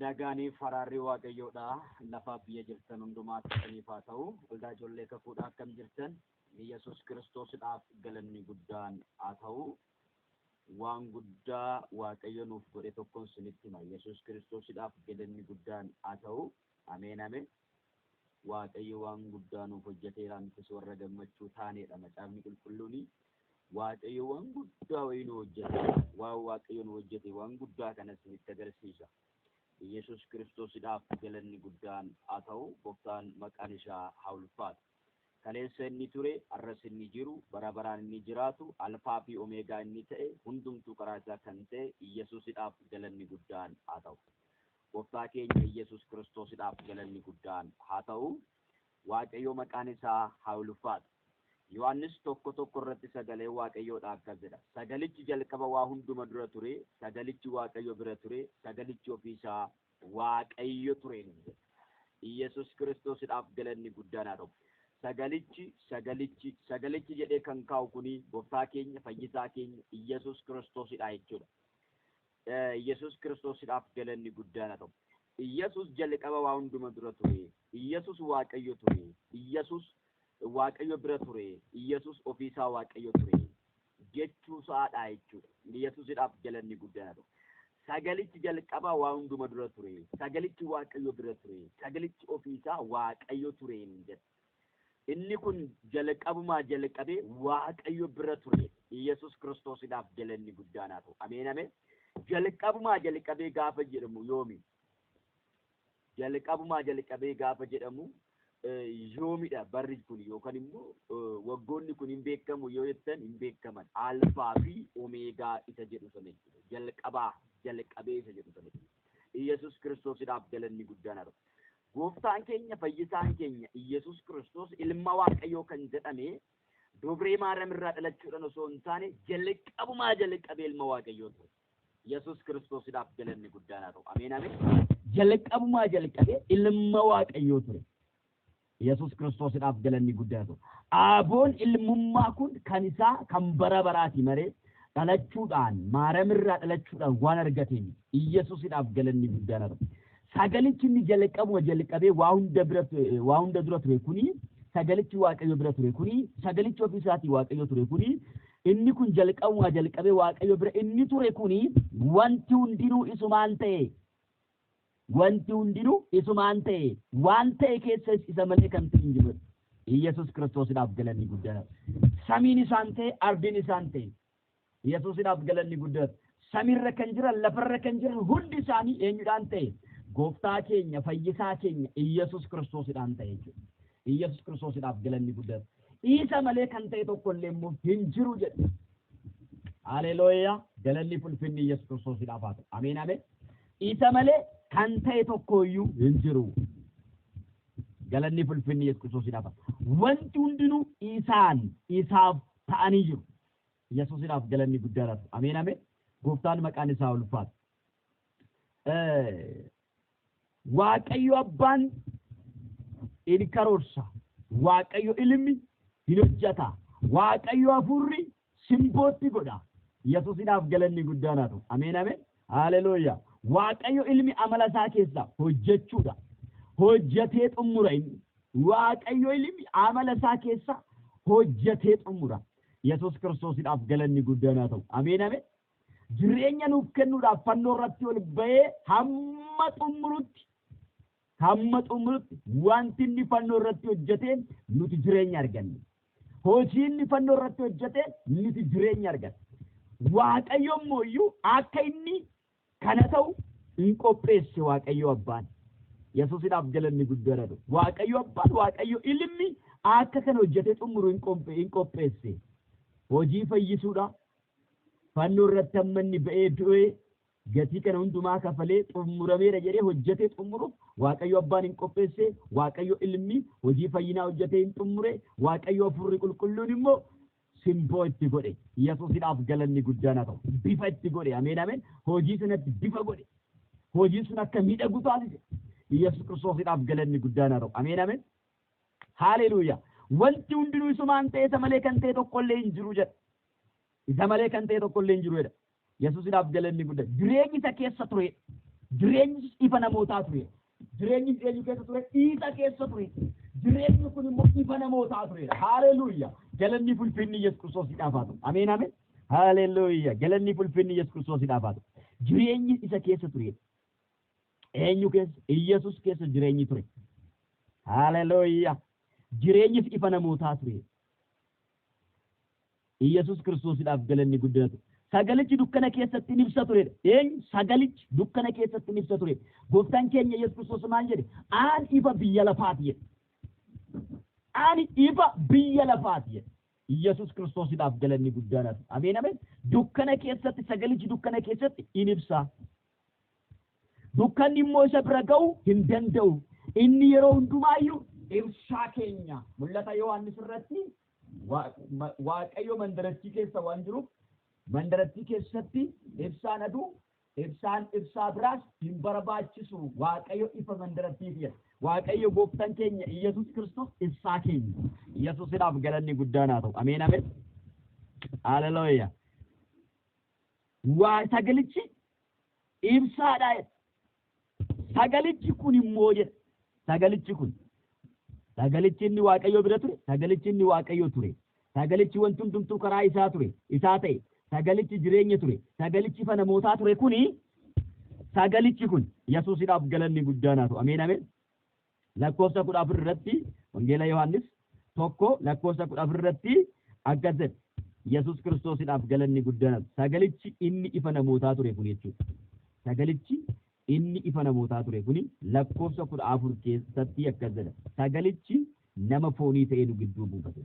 Nagaaniif haraarri Waaqayyoodha. Lafaaf biyya jirtan hundumaa keessaniif haa ta'u. Waldaa ijoollee kakuudhaa akkam jirtan? Yesus Kiristoosidhaaf galanni guddaan haa ta'u. Waan guddaa Waaqayyo nuuf godhe tokkon sinitti hima. Yesus Kiristoosidhaaf galanni guddaan haa ta'u. Ameen ameen. Waaqayyo waan guddaa nuuf hojjeteera nutis warra gammachuu taaneedha. Macaafni qulqulluun Waaqayyo waan guddaa wayii nu hojjete. Waan Waaqayyo nu hojjete waan guddaa kana isinitti agarsiisa. Yesus Kiristoosidhaaf galanni guddaan haa ta'u, Gooftaan maqaan isaa haa ulfaatu. Kaleessa inni ture, arras inni jiru, bara baraan inni jiraatu, Alfaa fi Omeegaa inni ta'e, hundumtuu karaa isaa kan ta'e Yesusidhaaf galanni guddaan haa ta'u. Gooftaa keenya Yesus Kiristoosidhaaf galanni guddaan haa ta'u. Waaqayyo maqaan isaa haa ulfaatu. Yohaannis tokko tokko irratti sagalee Waaqayyoodha akkas jedha. Sagalichi jalqaba waa hunduma dura ture, sagalichi Waaqayyo bira ture, sagalichi ofii isaa Waaqayyo ture nuun jedha. Iyyasuus Kiristoosidhaaf galanni guddaan haa ta'u. Sagalichi, sagalichi, sagalichi jedhee kan kaa'u kuni gooftaa keenya, fayyisaa keenya, Iyyasuus Kiristoosidha jechuudha. Iyyasuus Kiristoosidhaaf galanni guddaan haa ta'u. Iyyesuus jalqaba waa hunduma dura ture. Iyyesuus Waaqayyo ture. Iyyesuus Waaqayyo bira ture. Iyyesuus ofii isaa Waaqayyo ture. Jechuu isaa dha jechuudha. Iyyesuusidhaaf galanni guddaan haa Sagalichi jalqaba waa hunduma dura ture. Sagalichi Waaqayyo bira ture. Sagalichi ofii isaa Waaqayyo ture hin jedhu. Inni kun jalqabumaa jalqabee Waaqayyo bira ture. Yesus Kiristoosidhaaf galanni guddaan haa ta'u. Ameen ameen. Jalqabumaa jalqabee gaafa jedhamu yoomi? Jalqabumaa jalqabee gaafa jedhamu yoomidha barri kun yookaan immoo waggoonni kun hin beekamu yoo jettan hin beekaman. Alfaa fi Omeegaa isa jedhu sana jechuudha. Jalqabaa jalqabee isa jedhu sana jechuudha. Yesus Kiristoosidhaaf galanni guddaan haa ta'u. Gooftaan keenya fayyisaan keenya Iyyasuus Kiristoos ilma Waaqayyoo kan jedhame dubree Maariyaam irraa dhalachuudhaan osoo hin taane jalqabumaa jalqabee ilma Waaqayyoo ture. Iyyasuus Kiristoosidhaaf galanni guddaan haa ta'u. Ameen ameen. Jalqabumaa jalqabee ilma Waaqayyoo ture. Iyyasuus Kiristoosidhaaf galanni guddaan haa ta'u. Aaboon ilmummaa kun kan isaa kan bara baraati malee dhalachuudhaan Maariyaam irraa dhalachuudhaan waan argateen Iyyasuusidhaaf galanni guddaan haa ta'u. Sagalichi inni jalqabuma jalqabee waa hunda bira waa hunda dura ture kuni sagalichi Waaqayyo bira ture kuni sagalichi ofii isaatii Waaqayyo ture kuni inni kun jalqabuma jalqabee Waaqayyo bira inni ture kuni wanti hundinuu isumaan ta'e wanti hundinuu isumaan ta'e waan ta'e keessa isa malee kan ta'e hin jiru Iyyasuus Kiristoosidhaaf galanni guddaa samiin isaan ta'e ardiin isaan ta'e Yesuusidhaaf galanni guddaan. Samiirra kan jiran, lafarra kan jiran hundi isaanii eenyudhaan ta'e? Gooftaa keenya, fayyisaa keenya Iyyasuus Kiristoosidhaan ta'e jechuudha. Iyyasuus Kiristoosidhaaf galanni guddaan. Isa malee kan ta'e tokko illee immoo hin jiru jedhu. Haleelooyaa! Galanni fulfinni Iyyasuus Kiristoosidhaaf haa ta'u. Ameen ameen. Isa malee kan ta'e tokko iyyuu hin jiru. Galanni fulfinni Iyyasuus Kiristoosidhaaf haa ta'u. Wanti hundinuu isaan, isaaf ta'anii jiru. Yesusinaaf galanni guddaan haa ta'u. Ameen ameen. Gooftaan maqaan isaa ulfaatu. Waaqayyo abbaan in karoorsa. Waaqayyo ilmi hin hojjata. Waaqayyo hafuurri simbootti godha. Yesusinaaf galanni guddaan haa ta'u. Ameen ameen. Haalelooyaa. Waaqayyo ilmi amala isaa keessaa hojjechuudha. Hojjetee xumura inni. Waaqayyo ilmi amala isaa keessaa hojjetee xumura. Yesuus Kiristoosidhaaf galanni guddaan haa ta'u. Ameen ameen. Jireenya nuuf kennuudhaaf fannoo irratti ol ba'ee hamma xumurutti hamma xumurutti wanti inni fannoo irratti hojjeteen nuti jireenya arganne. Hojii inni fannoo irratti hojjeteen nuti jireenya arganne. Waaqayyo immoo iyyuu akka inni Kana ta'u in qopheesse Waaqayyo Abbaan. Yesuusidhaaf galanni guddoon haa ta'u. Waaqayyo Abbaan, Waaqayyo Ilmi akka kana hojjetee xumuru in qophe- in qopheesse. Hojii fayyisuudha. Fannoo irratti amma inni ba'ee du'ee gatii kana hundumaa kafalee xumurameera jedhee hojjetee xumuruuf Waaqayyo Abbaan in qopheesse, Waaqayyo Ilmi hojii fayyinaa hojjetee in xumure, Waaqayyo Hafuurri Qulqulluun immoo simboo itti godhe yesusidhaaf galanni guddaan haa ta'u bifa itti godhe ameen ameen hojii sanatti bifa godhe hojiin sun akka miidhagu taasise yesus kiristoosidhaaf galanni guddaan haa ta'u ameen ameen haaleluuya wanti hundinuu isumaan ta'e isa malee kan ta'e tokkollee hin jiru jedha isa malee kan ta'e tokkollee hin jiru jedha Yesuusidhaaf galanni gudda. Jireenyi isa keessa ture. Jireenyi ifa namootaa ture. Jireenyi eenyu keessa ture? Isa keessa ture. Jireenyi kun immoo ifa namootaa ture. Haaleluuya. Galanni fulfinni Yesuus Kiristoosiidhaaf haa ta'u. Ameen ameen. Haaleluuya. Galanni fulfinni Yesuus Kiristoosiidhaaf haa ta'u. Jireenyi isa keessa ture. Eenyu keessa? Iyyasuus keessa jireenyi ture. Haaleluuya. Jireenyis ifa namootaa ture. Iyyasuus Kiristoosidhaaf galanni guddina ture. Sagalichi dukkana keessatti in ibsa ture dha. Eenyu? Sagalichi dukkana keessatti in ibsa ture dha. Gooftaan keenya Iyyasuus Kiristoos maal jedhe? Aan ifa biyya lafaati jedhe. Ani ifa biyya lafaati jedhe. Iyyasuus Kiristoosidhaaf galanni guddaan haa ta'u. Ameen ameen. Dukkana keessatti sagalichi dukkana keessatti in ibsa. Dukkanni immoo isa bira ga'uu hin danda'u. Inni yeroo hundumaa iyyuu ibsaa keenya. Mul'ata Yohaannis irratti Waaqayyo mandarattii keessa waan jiruuf mandarattii keessatti ibsaan aduu ibsaan ibsaa biraas hin barbaachisu. Waaqayyo ifa mandarattii fi'a. Waaqayyo gooftan keenya Iyyasuus Kiristoos ibsaa keenya. Iyyasuusidhaaf galanni guddaan haa ta'u. Ameen ameen. Haalelooyaa. Waa sagalichi ibsaadha jedha. Sagalichi kun immoo jedha. Sagalichi kun. Sagalichi inni Waaqayyoo bira ture, sagalichi inni Waaqayyoo ture. Sagalichi wanti hundumtuu karaa isaa ture, isaa ta'e. Sagalichi jireenya ture, sagalichi ifa namootaa ture kuni sagalichi kun Yesuusidhaaf galanni guddaan haa ta'u. Ameen ameen. lakkoofsa 14 irratti Wangeela Yohaannis tokko lakkoofsa 14 irratti akkas jedha. Yesus Kiristoosidhaaf galanni guddaan sagalichi inni ifa namootaa ture kun jechuudha. Sagalichi inni ifa namootaa ture kun lakkoofsa 14 keessatti akkas jedha. Sagalichi nama foonii ta'ee nu gidduu buufate.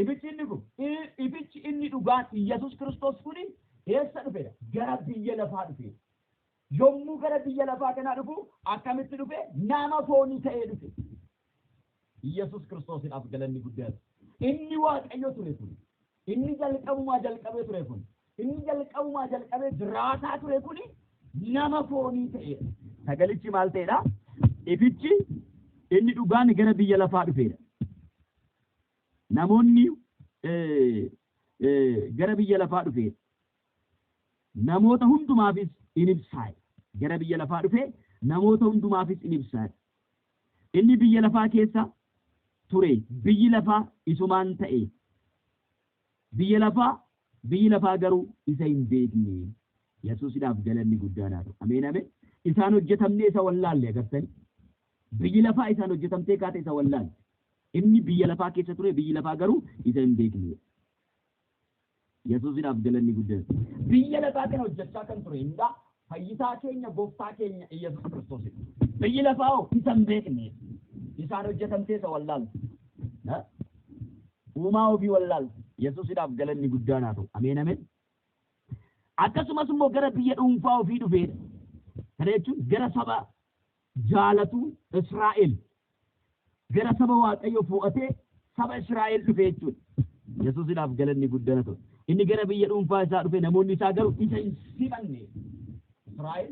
Ifichi inni kun, i, ifichi inni dhugaan Iyyasuus Kiristoos kuni eessa dhufeera? Gara biyya lafaa dhufeera. Yommuu gara biyya lafaa kanaa dhufu akkamitti dhufe? Nama foonii ta'ee dhufe. Iyyasuus Kiristoosidhaaf galanni guddaan. Inni Waaqayyo ture kun, inni jalqabumaa jalqabee ture kun, inni jalqabumaa jalqabee jiraataa ture kuni nama foonii ta'eera. Sagalichi maal ta'eedha? Ifichi inni dhugaan gara biyya lafaa dhufeera. Namoonni gara biyya lafaa dhufe namoota hundumaafis in ibsaa'e. Gara biyya lafaa dhufe namoota hundumaafis in ibsaa'e. Inni biyya lafaa keessa ture biyyi lafaa isumaan ta'e. Biyya lafaa biyyi lafaa garuu isa hin beekne. Yesuusidhaaf galanni guddaan haa ta'u. Ameen ameen. Isaan hojjetamnee isa wallaalle agartanii. Biyyi lafaa isaan hojjetamtee kaate isa wallaalle. Inni biyya lafaa keessa ture, biyyi lafaa garuu isa hin beekne. Yesuusidhaaf galanni guddaan. Biyya lafaa kana hojjechaa kan ture eenyudha? Fayyisaa keenya, Gooftaa keenya Iyyasuus Kiristoosidha. Biyyi lafaa hoo isa hin beekne. Isaan hojjetamtee isa wallaalti. Ha? Uumaa ofii wallaalti. Yesuusidhaaf galanni guddaan haa ta'u. Ameen ameen. Akkasumas immoo gara biyya dhuunfaa ofii dhufeedha. Kana jechuun gara saba jaalatu Israa'el gara saba Waaqayyo fo'atee saba Israa'el dhufe jechuudha. Yesuusidhaaf galanni guddana ta'u. Inni gara biyya dhuunfaa isaa dhufe namoonni isaa garuu isa hin simanne. Israa'el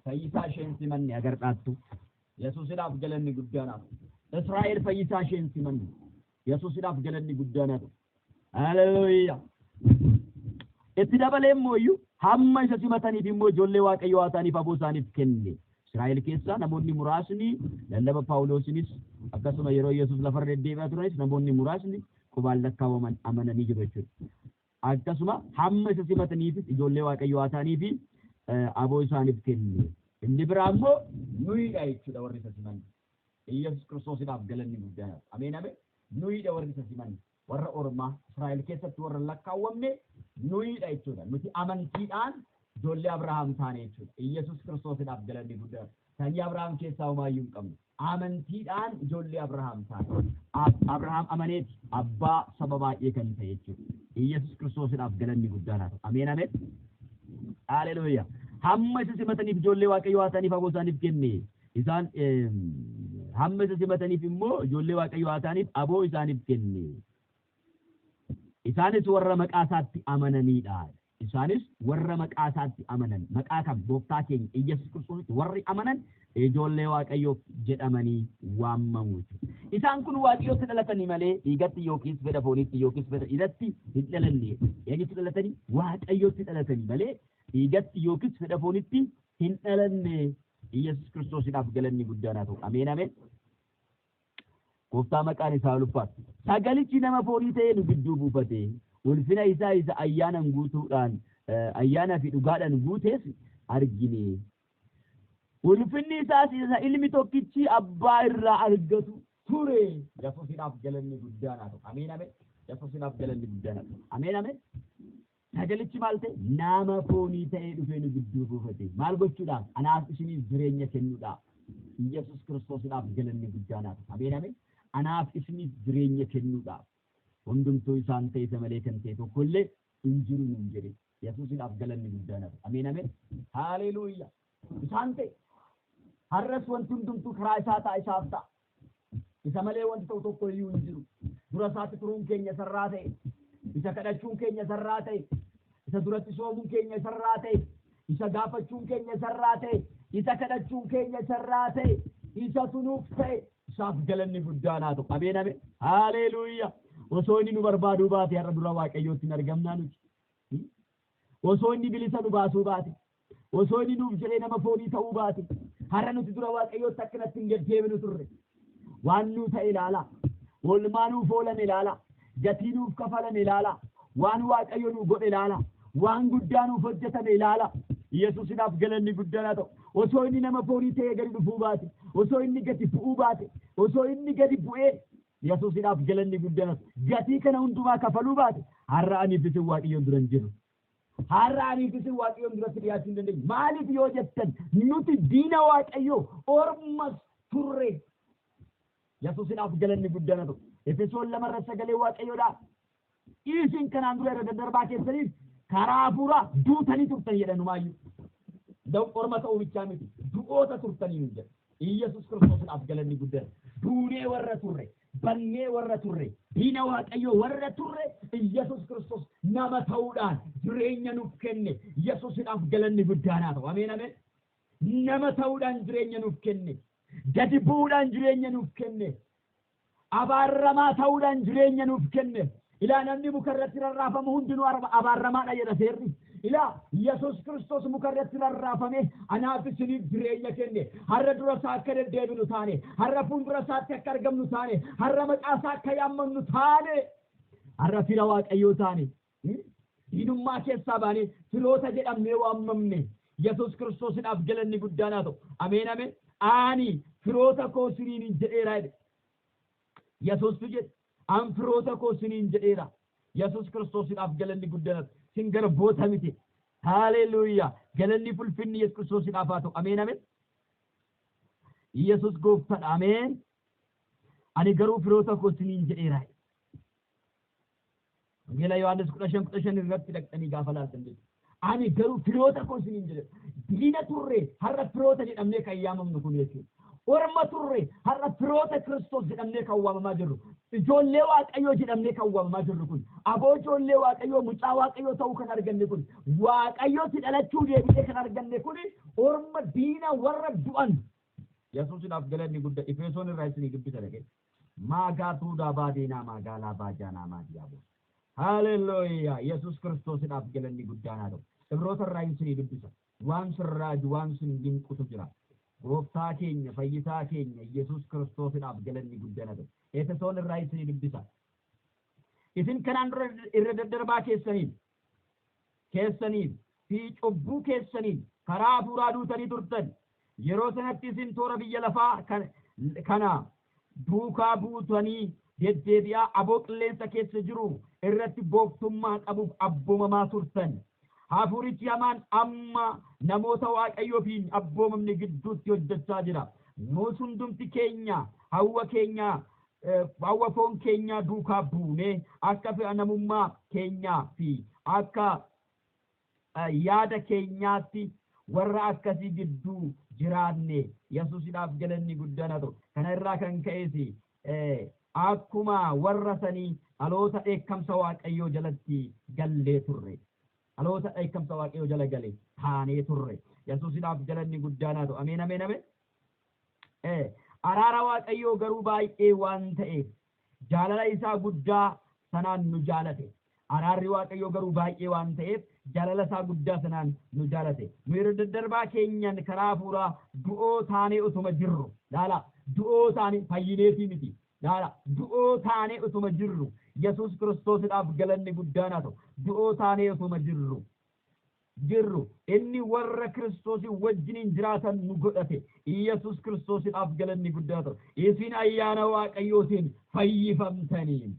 fayyisaa ishee hin simanne agar dhaattu. Yesuusidhaaf galanni guddaadhaaf. Israa'el fayyisaa ishee hin simanne. Yesuusidhaaf galanni guddaan haa ta'u. Haleluuyaa! Itti dabalee immoo iyyuu hamma isa simataniif immoo ijoollee Waaqayyoo haa ta'aniif aboo isaaniif kenne. Israa'el keessaa namoonni muraasni lallaba Phaawuloosinis akkasuma yeroo Yesuus lafarra deddeebi'aa turanis namoonni muraasni qubaan lakkaa'aman amananii jiru jechuudha. Akkasuma hamma isa simataniifis ijoollee Waaqayyoo haa ta'anii fi aboo isaaniif kenne. Inni biraa immoo nuyidha jechuudha warri isa simanne. Iyyasuus Kiristoosiidhaaf galanni guddaan haa ta'u. Ameen ameen. Nuyiidha warri isa simanne. Warra ormaa Israa'el keessatti warra lakkaawwamne nuyiidha jechuudha. Nuti amantiidhaan ijoollee Abrahaam taane jechuudha. Iyyasuus Kiristoosiidhaaf galanni guddaan. Sanyii Abrahaam keessaa homaayyuu hin qabnu. Amantiidhaan ijoollee Abrahaam taane. Ab- Abrahaam amaneeti abbaa saba baay'ee kan ta'e jechuudha. Iyyasuus Kiristoosiidhaaf galanni guddaan haa ta'u. Ameen ameen. Haleluuyaa. Hamma isa simataniif ijoollee Waaqayyoo haa ta'aniif aboo isaaniif kenne. Isaan hamma isa simataniif immoo ijoollee Waaqayyoo haa ta'aniif aboo isaaniif kenne. Isaanis warra maqaa isaatti amananiidha. Isaanis warra maqaa isaatti amanan maqaa kan gooftaa keenya Iyyasuus Kiristoositti warri amanan ijoollee Waaqayyoof jedhamanii waamamu. Isaan kun Waaqayyootti dhalatanii malee dhiigatti yookiis fedha fooniitti yookiis fedha dhiiratti hin dhalanne. Eenyutti dhalatanii? Waaqayyootti dhalatanii malee dhiigatti yookiis fedha foonitti hin dhalanne Iyyasuus Kiristoosidhaaf galanni guddaan haa ta'u. Ameen ameen. Gooftaa maqaan isaa ulfaatu. Sagalichi nama foonii ta'ee nu gidduu buufate. Ulfina isaa isa ayyaanan guutuudhaan ayyaanaa fi dhugaadhaan guutes argine. Ulfinni isaas isa ilmi tokkichi abbaa irraa argatu ture. Yesuusidhaaf galanni guddaan haa ta'u. Ameen ameen. Yesuusidhaaf galanni guddaan haa ta'u. Ameen ameen. Sagalichi maal ta'e? Nama foonii ta'ee dhufee nu gidduu buufate. Maal gochuudhaaf? Anaaf isiniif jireenya kennuudhaaf. Iyyasuus Kiristoosidhaaf galanni guddaan haa ta'u. Ameen ameen. Anaaf isiniif jireenya kennuudhaaf. Hundumtuu isaan ta'e isa malee kan ta'e tokko illee hin jiru nuun jedhe. Yesuusidhaaf galanni guddaan haa ta'u. Ameen ameen. Haaleeluuyyaa. Isaan ta'e. Har'as wanti hundumtuu karaa isaa ta'a isaaf ta'a. Isa malee wanti ta'u tokko iyyuu hin jiru. Dura isaatti turuun keenya isa irraa ta'e. Isa kadhachuun keenya isa irraa ta'e. Isa duratti soomuun keenya isa irraa ta'e. Isa gaafachuun keenya isa irraa ta'e. Isa kadhachuun keenya isa irraa ta'e. Isa tunuuf ta'e. Isaaf galanni guddaan haa ta'u. Ameen ameen. Haaleeluuyaa. Osoo inni nu barbaaduu baate har'a dura Waaqayyootti hin argamnaa nuti. Osoo inni bilisa nu baasuu baate, osoo inni nuuf jedhee nama foonii ta'uu baate, har'a nuti dura Waaqayyootti akkanatti hin gad deebinu turre. Waan nuu ta'e ilaalaa. Oolmaa nuuf oolame ilaalaa. Gatii nuuf kafalame ilaalaa. Waan Waaqayyo nuu godhe ilaalaa. Waan guddaa nuuf hojjetame ilaalaa. Yesuusidhaaf galanni guddaan haa ta'u. Osoo inni nama foonii ta'ee gadi dhufuu baate, osoo inni gadi bu'uu baate, osoo inni gadi bu'ee Yesuusidhaaf galanni guddanas gatii kana hundumaa kafaluu baate har'a aniif isin Waaqayyoon dura hin jirru. Har'a aniif isin Waaqayyoon duratti dhiyaachuu hin dandeenyu. Maaliif yoo jettan nuti diina Waaqayyoo ormas turre. Yesuusidhaaf galanni guddaana ta'u. Efesoon lamarra sagalee Waaqayyoodhaa Iisin kanaan dura irra daddarbaa keessaniif karaa hafuuraa duutanii turtan jedha inumaayyuu. Da'u orma ta'uu bichaa miti du'oota turtanii nuun jedha. Iyyasuus Kiristoosidhaaf galanni guddaan duunee warra turre, badnee warra turre, diina Waaqayyoo warra turre Iyyasuus Kiristoos nama ta'uudhaan jireenya nuuf kenne. Yesuusidhaaf galanni guddaan haa ta'u. Ameen ameen. Nama ta'uudhaan jireenya nuuf kenne. Gadi bu'uudhaan jireenya nuuf kenne. Abaarramaa ta'uudhaan jireenya nuuf kenne. Ilaa namni muka irratti rarraafamu hundinuu abaarramaa dha jedha seerri. Ilaa Yesuus Kiristoos muka irratti rarraafamee anaa fi isiniif jireenya kenne. Har'a dura isaa akka deddeebinu taane, har'a fuuldura isaatti akka argamnu taane, har'a maqaa isaa akka yaammannu taane, har'a fira Waaqayyoo taane. Diinummaa keessaa baanee firoota jedhamnee waammamne. Yesuus Kiristoosidhaaf galanni guddaan haa ta'u. Ameen ameen. Ani firoota koo siniinin jedheera jedhe. Yesuustu jedhe. An firoota koo siniin jedheera. Yesuus Kiristoosidhaaf galanni guddaan haa ta'u. Sin garboota miti. Haaleluuyaa. Galanni fulfinni Yesuus Kiristoosidhaaf haa ta'u. Ameen ameen. Yesuus gooftadha. Ameen. Ani garuu firoota koo siniin jedheera. Wangeela Yohaannis kudha shan kudha shan irratti dhaqxanii gaafa laaltan jechuudha. Ani garuu firoota koo isiniin jedhe diina turre har'a firoota jedhamnee kan yaamamnu kun jechuudha. Orma turre har'a firoota Kiristoos jedhamnee kan waamamaa jirru. Ijoollee Waaqayyoo jedhamnee kan waamamaa jirru kun. Aboo ijoollee Waaqayyoo mucaa Waaqayyoo ta'uu kan arganne kun. Waaqayyootti dhalachuu deebinee kan arganne kun orma diina warra du'an. Yesuusidhaaf galanni guddaa Efesoon irraa isinii dubbisa dhagee. Maagaatuudhaa baadiinaa maagaalaa baajaanaa maadiyaaboos. Haalelooyaa! Yesuus Kiristoosidhaaf galanni guddaan haa ta'u. Ibroota irraa hin sinii dubbisa. Waan sin raaju, waan sin dinqutu jira. Gooftaa keenya, fayyisaa keenya Yesuus Kiristoosidhaaf galanni guddaan haa ta'u. Efesoon irraa hin sinii dubbisa. Isin kanaan dura irra daddarbaa keessaniin keessaniin fi cubbuu keessaniin karaa hafuuraa duutanii turtan. Yeroo sanatti isin toora biyya lafaa kan- kana duukaa buutanii deddeebi'aa aboo qilleensa keessa jiru irratti gooftummaa qabuuf abboomamaa turtan. Hafuurichi hamaan amma namoota Waaqayyoo fi hin abboomamne gidduutti hojjechaa jira. Nuus hundumti keenya hawwa keenya Hawwa foon keenyaa duukaa buunee akka fedha namummaa keenyaa fi akka yaada keenyaatti warra akkasii gidduu jiraanne Yesuusidhaaf galanni guddaan haa ta'u. Kana irraa kan ka'es akkuma warra sanii dhaloota dheekkamsa Waaqayyoo jalatti gallee turre. Dhaloota dheekkamsa Waaqayyoo jala gale taanee turre. Yesuusidhaaf galanni guddaan haa ta'u. Ameen ameen ameen. e. Araara Waaqayyoo garuu baay'ee waan ta'eef, jaalala isaa guddaa sanaan nu jaalate. Araarri Waaqayyoo garuu baay'ee waan ta'eef, jaalala isaa guddaa sanaan nu jaalate. Nu irra daddarbaa keenyaan karaa hafuuraa du'oo taanee utuma jirru, laalaa, du'oo taanee, fayyineetii miti, laalaa, du'oo taanee utuma jirru, Yesuus Kiristoosidhaaf galanni guddaan haa ta'u, du'oo taanee utuma jirru, jirru, inni warra Kiristoosiin wajjiniin jiraatan nu godhate. Iyyasuus Kiristoosidhaaf galanni guddaa ta'u. Isin ayyaana Waaqayyootiin fayyifamtanii.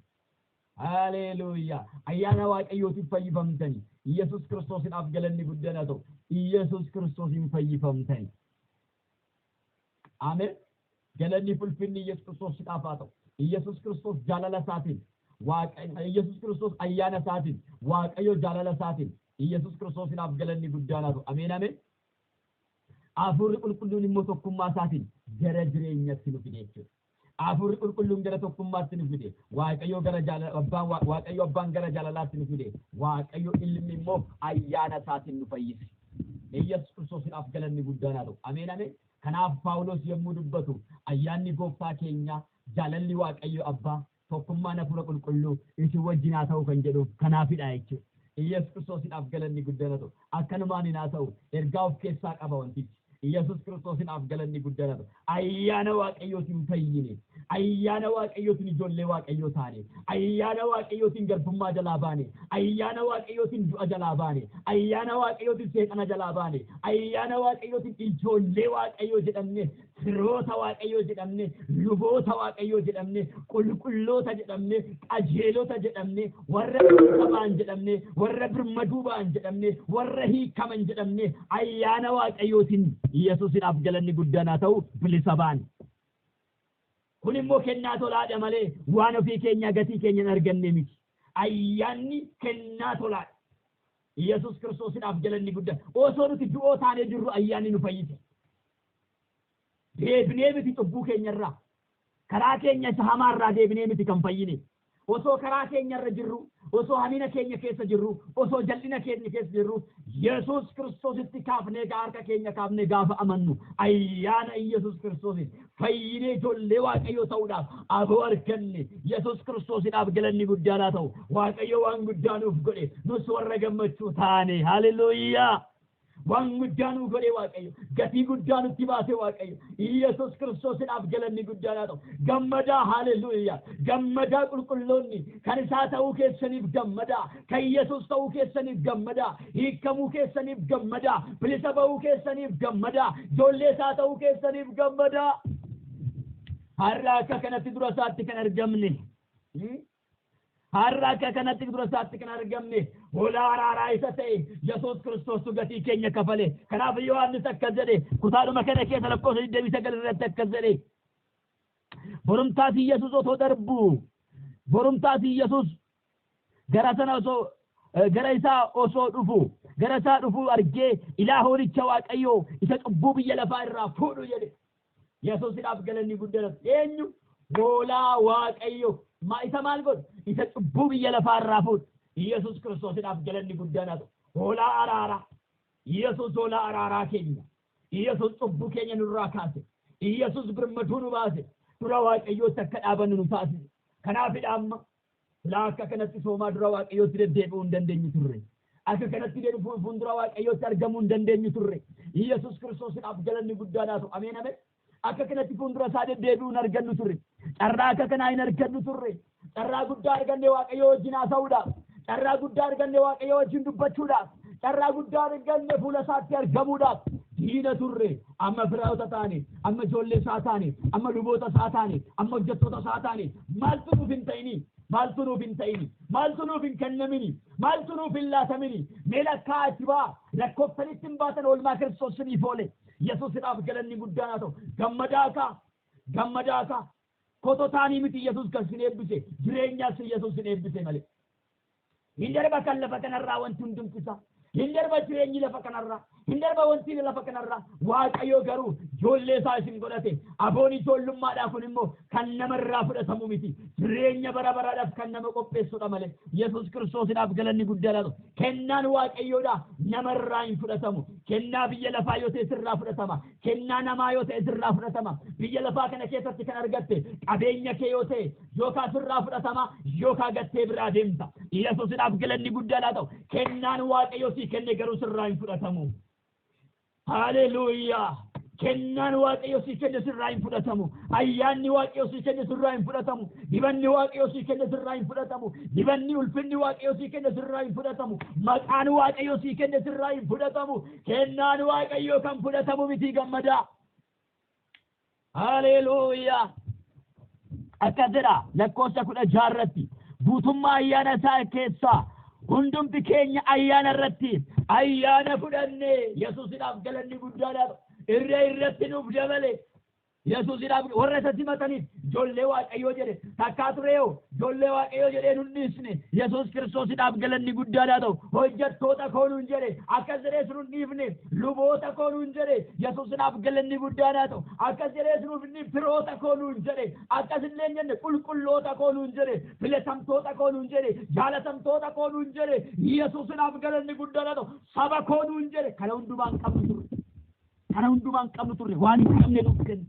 Haaleeluuyaa! Ayyaana Waaqayyootiin fayyifamtanii. Iyyasuus Kiristoosidhaaf galanni guddana ta'u. Iyyasuus Kiristoosiin fayyifamtanii. Amen galanni fi ulfinni Iyyasuus Kiristoosidhaaf haa ta'u. Iyyasuus Kiristoos jaalala isaatiin Waaqayyo Iyyasuus Kiristoos ayyaana isaatiin Waaqayyo jaalala isaatiin Iyyasuus Kiristoosidhaaf galanni guddaan haa ta'u. Ameen ameen. Hafuurri qulqulluun immoo tokkummaa isaatiin gara jireenyatti nu fide jechuudha. Hafuurri Qulqulluun gara tokkummaatti nu fide, Waaqayyo gara jaalala, Abbaan, Wa- Waaqayyo Abbaan gara jaalalaatti nu fide, Waaqayyo Ilmi immoo ayyaana isaatiin nu fayyise. Iyyasuus Kiristoosiidhaaf galanni guddaan haa ta'u. Ameen ameen. Kanaaf Phaawulos yommuu dubbatu ayyaanni gooftaa keenyaa, jaalalli Waaqayyo Abbaa, Tokkummaan Hafuura Qulqulluu isin wajjin haa ta'u kan jedhuuf kanaafidha jechuudha. Iyyesuus Kiristoosidhaaf galanni guddaan haa ta'u. Akkanumaan hin haa ta'u. Ergaa of keessaa qaba wantichi. Iyyesuus Kiristoosidhaaf galanni guddaan haa ta'u. Ayyaana Waaqayyootiin fayyine. Ayyaana Waaqayyootiin ijoollee Waaqayyoo taane. Ayyaana Waaqayyootiin garbummaa jalaa baane. Ayyaana Waaqayyootiin du'a jalaa baane. Ayyaana Waaqayyootiin seexana jalaa baane. Ayyaana Waaqayyootiin ijoollee Waaqayyoo jedhamne. firoota Waaqayyoo jedhamne, luboota Waaqayyoo jedhamne, qulqulloota jedhamne, qajeelota jedhamne, warra dhuunfa ba'an jedhamne, warra birmaduu ba'an jedhamne, warra hiikaman jedhamne, ayyaana Waaqayyootiin Yesuusidhaaf galanni guddaan haa ta'u bilisa ba'an. Kun immoo kennaa tolaadha malee waan ofii keenyaa gatii keenya hin arganne miti. Ayyaanni kennaa tolaadha. Yesuus Kiristoosidhaaf galanni guddaan. Osoo nuti du'oo taanee jirru ayyaanni nu fayyise. Deebinee miti cubbuu keenya irraa, karaa keenya isa hamaa irraa deebinee miti kan fayyine. Osoo karaa keenya irra jirruu, osoo hamina keenya keessa jirruu, osoo jal'ina keenya keessa jirruu, Yesuus Kiristoositti kaafnee egaa harka keenya kaafnee gaafa amannu, ayyaana Yesuus Kiristoosiin fayyinee ijoollee Waaqayyoo ta'uudhaaf aboo arganne. Yesuus Kiristoosidhaaf galanni guddaan haa ta'u. Waaqayyo waan guddaa nuuf godhe, nus warra gammachuu taane. Haaleluyyaa! Waan guddaa nuu godhe Waaqayyo. Gatii guddaa nutti baase Waaqayyo. Iyyasuus Kiristoosidhaaf galanni guddaan haa ta'u. Gammadaa haaleluyyaa. Gammadaa qulqulloonni kan isaa ta'uu keessaniif gammadaa. Kan Yesuus ta'uu keessaniif gammadaa. Hiikamuu keessaniif gammadaa. Bilisa ba'uu keessaniif gammadaa. Ijoollee isaa ta'uu keessaniif gammadaa. Har'a akka kanatti dura isaatti kan argamne. Har'a akka kanatti dura isaatti kan argamne hoolaa araaraa isa ta'e Yesuus Kiristoostu gatii keenya kafale. Kanaaf Yohaannis akkas jedhe kutaadhuma kana keessa lakkoofsa 29 irratti akkas jedhe. Borumtaas Yesuus otoo darbu borumtaas Yesuus gara sana osoo gara isaa osoo dhufu gara isaa dhufu argee ilaa hoolicha Waaqayyoo isa cubbuu biyya lafaa irraa fuudhu jedhe. Yesuusidhaaf galanni guddaan eenyu? Hoolaa Waaqayyo ma isa maal godhu? Isa cubbuu biyya lafaa irraa fuudhu. Yesuus Kiristoosidhaaf galanni guddaan haa ta'u. Hoolaa araaraa. Yesuus hoolaa araaraa keenya. Yesuus cubbuu keenya nurraa kaase. Yesuus birmaduu nu baase. Dura Waaqayyootti akka dhaabannu nu taasise. Kanaafidha amma Silaa akka kanatti soomaa dura Waaqayyootti deddeebi'uu hin dandeenyu turre. Akka kanatti deebi'uu fuuldura Waaqayyootti argamuu hin dandeenyu turre. Yesus Kiristoosiidhaaf galanni guddaan haa ta'u. Ameen ameen. Akka kanatti fuuldura isaa deddeebi'uu hin argannu turre. Carraa akka kanaa hin argannu turre. Carraa guddaa arganne Waaqayyoo wajjin haasa'uudhaaf. Carraa guddaa arganne Waaqayyoo wajjin dubbachuudhaaf. Carraa guddaa arganne fuula isaatti argamuudhaaf. Diina turre. amma firaa'ota taane, amma ijoollee isaa taane, amma luboota isaa taane, amma hojjettoota isaa taane, maaltu nuuf hin ta'ini? Maaltu nuuf hin ta'ini? Maaltu nuuf hin kennamini? Maaltu nuuf hin laatamini? Mee lakkaa itti baa lakkoftanitti hin baatan oolmaa Kiristoos siniif oole. Yesuusidhaaf galanni guddaan haa ta'u. Gammadaa kaa! Gammadaa kaa! Kototaanii miti Yesus kan sin eebbise, jireenyas Yesus sin eebbise malee. Hin darba kan lafa kanarraa wanti hundumti isaa. Hin darba jireenyi lafa kanarraa. Hin darba wanti lafa kanarraa. Waaqayyo garuu ijoollee isaa isin godhate. Aboon ijoollummaadhaa kun immoo kan namarraa fudhatamu miti. Jireenya bara baraadhaaf kan nama qopheessudha malee. Yesus Kiristoosidhaaf galanni guddaa laatu. Kennaan Waaqayyoodhaa namarraa hin fudhatamu. Kennaa biyya lafaa yoo ta'e sirraa fudhatama. Kennaa namaa yoo ta'e sirraa fudhatama. Biyya lafaa kana keessatti kan argatte qabeenya kee yoo ta'e yookaa sirraa fudhatama yookaa gattee biraa deemta. Yesuusidhaaf galanni guddaan haa ta'u. Kennaan Waaqayyo sii kenne garuu sirraa hin fudhatamu. Haaleluuyaa! Kennaan Waaqayyo sii kenne sirraa hin fudhatamu. Ayyaanni Waaqayyo sii kenne sirraa hin fudhatamu. Dibanni Waaqayyo sii kenne sirraa hin fudhatamu. Dibanni ulfinni Waaqayyo sii kenne sirraa hin fudhatamu. Maqaan Waaqayyo sii kenne sirraa hin fudhatamu. Kennaan Waaqayyoo kan fudhatamu miti gammadaa. Haleeluuyaa. Akkas jedha lakkoofsa kudha jaha irratti guutummaa ayyaana isaa keessaa hundumti keenya ayyaana irratti ayyaana fudhanne Yesuusidhaaf galanni guddaadhaaf irra irratti nuuf dabale Yesuusidhaaf warra isa simataniif ijoollee Waaqayyoo jedhe takkaa tureeho ijoollee Waaqayyoo jedhee nun dhiisne Yesuus Kiristoosidhaaf galanni guddaan haa ta'u hojjettoota koo nun jedhe akkas jedhees nun dhiifne luboota koo nun jedhe Yesuusidhaaf galanni guddaan haa ta'u akkas jedhees nuuf inni firoota koo nun jedhe akkas illee hin jenne qulqulloota koo nun jedhe filatamtoota koo nun jedhe jaalatamtoota koo nun jedhe Yesuusidhaaf galanni guddaan haa ta'u saba koo nun jedhe kana hundumaan qabnu turre. Kana hundumaa hin qabnu turre waan hin qabne nuuf kenne.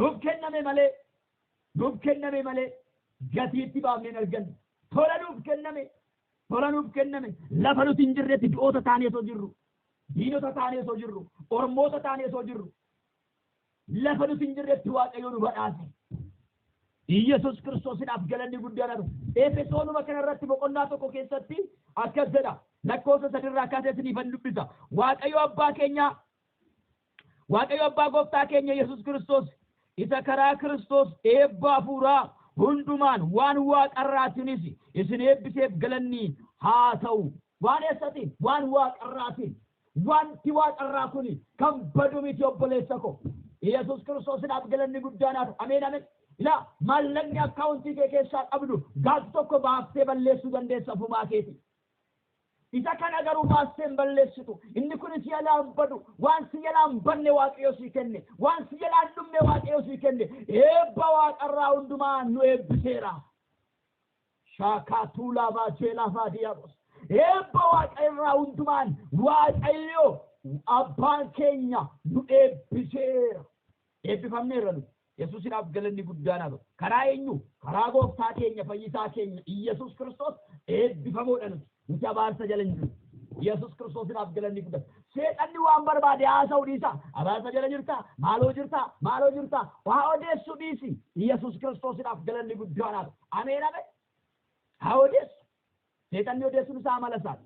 Nuuf kenname malee nuuf kenname malee gatii itti baafnee hin arganne. Tola nuuf kenname tola nuuf kenname lafa nuti hin jirretti du'oota taanee osoo jirru diinota taanee osoo jirru ormoota taanee osoo jirru Lafa nuti hin jirretti Waaqayyo nu badhaase. Iyyasuus Kiristoosidhaaf galanni guddaan haa ta'u. Efesoonuma kana irratti boqonnaa tokko keessatti akkas jedha. Lakkoofsa sadirraa kaasee isiniifan dubbisa. Waaqayyo abbaa keenyaa Waaqayyo abbaa gooftaa keenya Yesuus Kiristoos isa karaa Kiristoos eebba hafuuraa hundumaan waan waaqarraatiinis isin eebbiseef galanni haa ta'u. Waan eessati? Waan waaqarraatiin. Wanti waaqarraa kun kan badu miti obboleessa koo. Iyyasuus Kiristoosidhaaf galanni guddaan haa ta'u. Ameen ameen. Ilaa maallaqni akkaawuntii kee keessaa qabdu gaaf tokko baaftee balleessuu dandeessa ofumaa keetii. Isa kana garuu baastee hin balleessitu. Inni kun si jalaa hin badu. Waan si jalaa hin banne Waaqayyo sii kenne. Waan si jalaa hin dhumne Waaqayyo sii kenne. Eebba waaqarraa hundumaa nu eebbiseera. Shaakaa Tuulaa Baacheelaa Faadiyaabos. Eebba waaqa irraa hundumaan Waaqayyo abbaan keenya nu eebbiseera. Eebbifamneerra nu. Yesuusinaaf galanni guddaan haa ta'u. Karaa eenyu? Karaa gooftaa keenya fayyisaa keenya Iyyasuus Kiristoos eebbifamoodha nuti. Nuti abaarsa jala hin jiru. Yesus Kiristoosinaaf galanni guddata. Seexanni waan barbaade haasa'u dhiisa. Abaarsa jala jirta, maaloo jirta, maaloo jirta. Waa odeessu dhiisi. Yesus Kiristoosinaaf galanni guddaan haa ta'u. Ameen ameen. Haa odeessu. Seexanni odeessuun isaa amala isaati.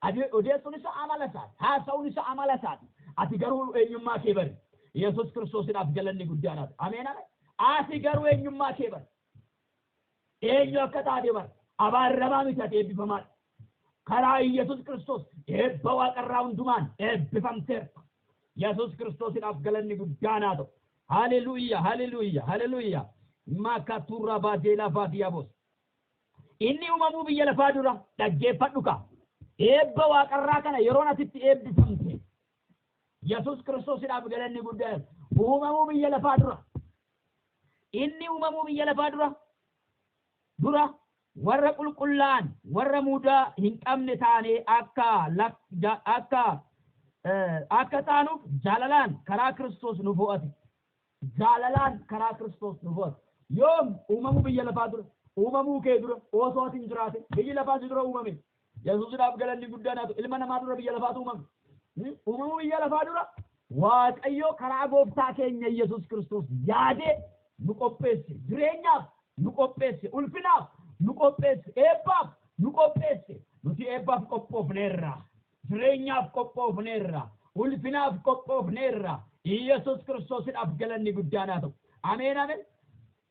Ade- Odeessuun isaa amala isaati. Haasa'uun isaa amala isaati. Ati garuu eenyummaa kee bari. Yesus Kiristoosinaaf galanni guddaan haa ta'u. Ameen ameen. Ati garuu eenyummaa kee bari. Eenyu akka taate bar. Abaarramaa miti ati eebbifamaadha. Karaa Iyyasuus Kiristoos eebba waaqarraa hundumaan eebbifamteerta. Yesuus Kiristoosidhaaf galanni guddaan haa ta'u. Haleluuyyaa haleluuyyaa haleluuyyaa maakaturraa baadeelaa baadiyaaboos. Inni uumamuu biyya lafaa dura dhaggeeffadhu kaa. Eebba waaqarraa kana yeroon asitti eebbifamte. Yesuus Kiristoosidhaaf galanni guddaan uumamuu biyya lafaa dura Inni uumamuu biyya lafaa dura dura warra qulqullaa'an warra mudaa hin qabne taanee akka lak- ja- akka eh, akka taanuuf jaalalaan karaa Kiristoos nu fo'ate. Jaalalaan karaa Kiristoos nu fo'ate. Yoom uumamuu biyya lafaa dura uumamuu kee dura osoo ati hin jiraate biyyi lafaa si dura uumame Yesuusidhaaf galanni guddaan haa ta'u. Ilma namaa dura biyya lafaatu uumame. Hmm? Uumamuu biyya lafaa dura Waaqayyo karaa gooftaa keenya Yesuus Kiristoos yaadee nu qopheesse. Jireenyaaf nu qopheesse. Ulfinaaf nu qopheesse. Eebbaaf nu qopheesse. Nuti eebbaaf qophoofneerra. Jireenyaaf qophoofneerra. Ulfinaaf qophoofneerra. Yesuus Kiristoosidhaaf galanni guddaan haa ta'u. Ameen ameen.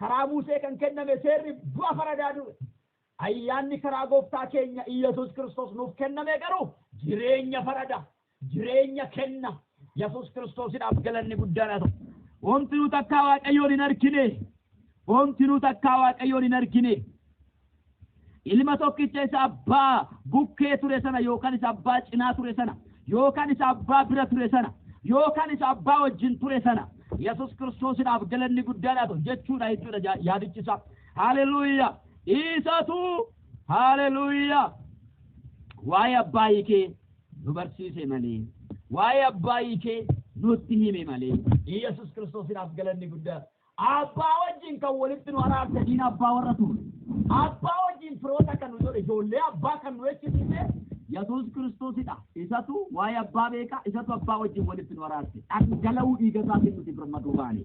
Karaa Musee kan kenname seerri du'a faradaa ture. Ayyaanni karaa Gooftaa keenya Iyyasuus Kiristoos nuuf kenname garuu jireenya farada, jireenya kenna. Yesuus Kiristoosidhaaf galanni guddaan haa ta'u. Omtinuu takkaa Waaqayyoon hin argine. Omtinuu takkaa Waaqayyoon hin argine. Ilma tokkicha isa abbaa bukkee ture sana yookaan isa abbaa cinaa ture sana yookaan isa abbaa bira ture sana yookaan isa abbaa wajjin ture sana Yesus Kiristoosidhaaf galanni guddaan haa ta'u jechuudha jechuudha ja- yaadichi isaa. Haaleluyyaa! Isatu haaleluyyaa! Waa'ee abbaa hiikee nu barsiise malee waa'ee abbaa hiikee nutti hime malee Yesus Kiristoosidhaaf galanni guddaan Abbaa wajjin kan walitti nu araarse diina abbaa warra turre. Abbaa wajjin firoota kan nu godhe ijoollee abbaa kan nu jechisiise Yesuus Kiristoosidha. Isatu waa'ee abbaa beeka, isatu abbaa wajjin walitti nu araarse. Dhangala'uu dhiiga isaatiin nuti birmaduu baane.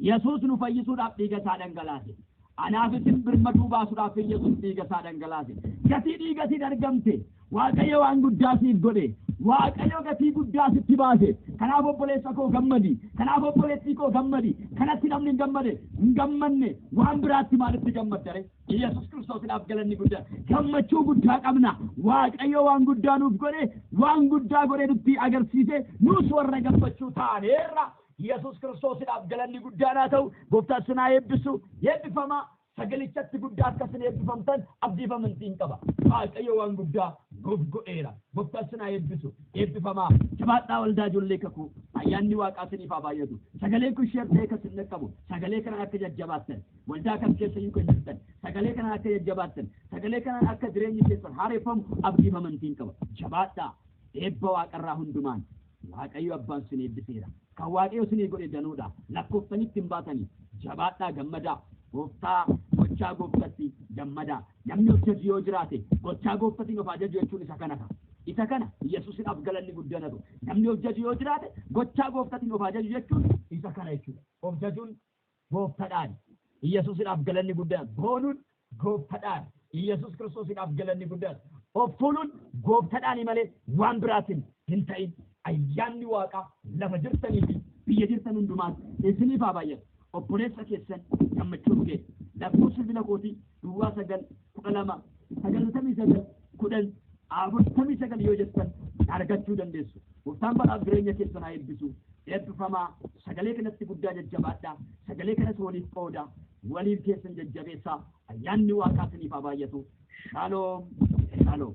Yesuus nu fayyisuudhaaf dhiiga isaa dhangalaase. Anaaf isin birmaduu baasudhaaf Iyyasuus dhiiga isaa dhangalaase. Gatii dhiiga isin argamte Waaqayyo waan guddaa siif godhe. Waaqayyo gatii guddaa sitti baase. Kanaaf obboleessa koo gammadi. Kanaaf obboleettii koo gammadi. Kanatti namni hin gammade hin gammanne waan biraatti maalitti gammaddare? Iyyasuus Kiristoosidhaaf galanni guddaa. Gammachuu guddaa qabna. Waaqayyo waan guddaa nuuf godhe, waan guddaa godhe nutti agarsiise, nuus warra gammachuu taaneerra. Yesus Kiristoosidhaaf galanni guddaan haa ta'u! Gooftaan sin haa eebbisu! Eebbifamaa! Sagalichatti guddaa akka sin eebbifamtan abdiif amantiin qaba. Waaqayyo waan guddaa nuuf godheera. Gooftaan sin haa eebbisu! Eebbifamaa! Jabaadhaa Waldaa Ijoollee Kakuu! Ayyaanni Waaqaa siniif haa baay'atu! Sagaleen kun share ta'ee kan sin dhaqqabu sagalee kanaan akka jajjabaattan, waldaa kam keessayyuu kan jirtan sagalee kanaan akka jajjabaattan, sagalee kanaan akka jireenyi keessan haareffamu abdiif amantiin qaba. Jabaadhaa! Eebba Waaqarraa hundumaan! Waaqayyo abbaan sin eebbiseera. Kan Waaqayyo sinii godhe danuudha. Lakkooftanitti hin baatani. Jabaadhaa gammadaa. Gooftaa gochaa gooftatti gammadaa. Namni of jaju yoo jiraate gochaa gooftatiin of ajaju jechuun isa kana ta'a. Isa kana Yesuusidhaaf galanni guddaan haa ta'u. Namni of jaju yoo jiraate gochaa gooftatiin of ajaju jechuun isa kana jechuudha. Of jajuun Gooftadhaan Iyyasuusidhaaf galanni guddaan boonuun Gooftadhaan Iyyasuus Kiristoosidhaaf galanni guddaan of tuuluun Gooftadhaani malee waan biraatin hin ta'in. Ayyaanni Waaqaa lafa jirtanii fi biyya jirtan hundumaatti isiniif haa baay'atu. Obboleessa keessan Gammachuu Nugee. Lakkoofsi bilbila kootii. duwwaa sagal kudha lama sagaltamii sagal kudhan afurtamii sagal yoo jettan argachuu dandeessu. Gooftaan baraaf jireenya keessan haa eebbisu. Eebbifamaa sagalee kanatti guddaa jajjabaadha. Sagalee kanas waliif qooda. Waliin keessan jajjabeessaa. Ayyaanni waaqaa isiniif haa baay'atu. Shaaloom. Shaaloom.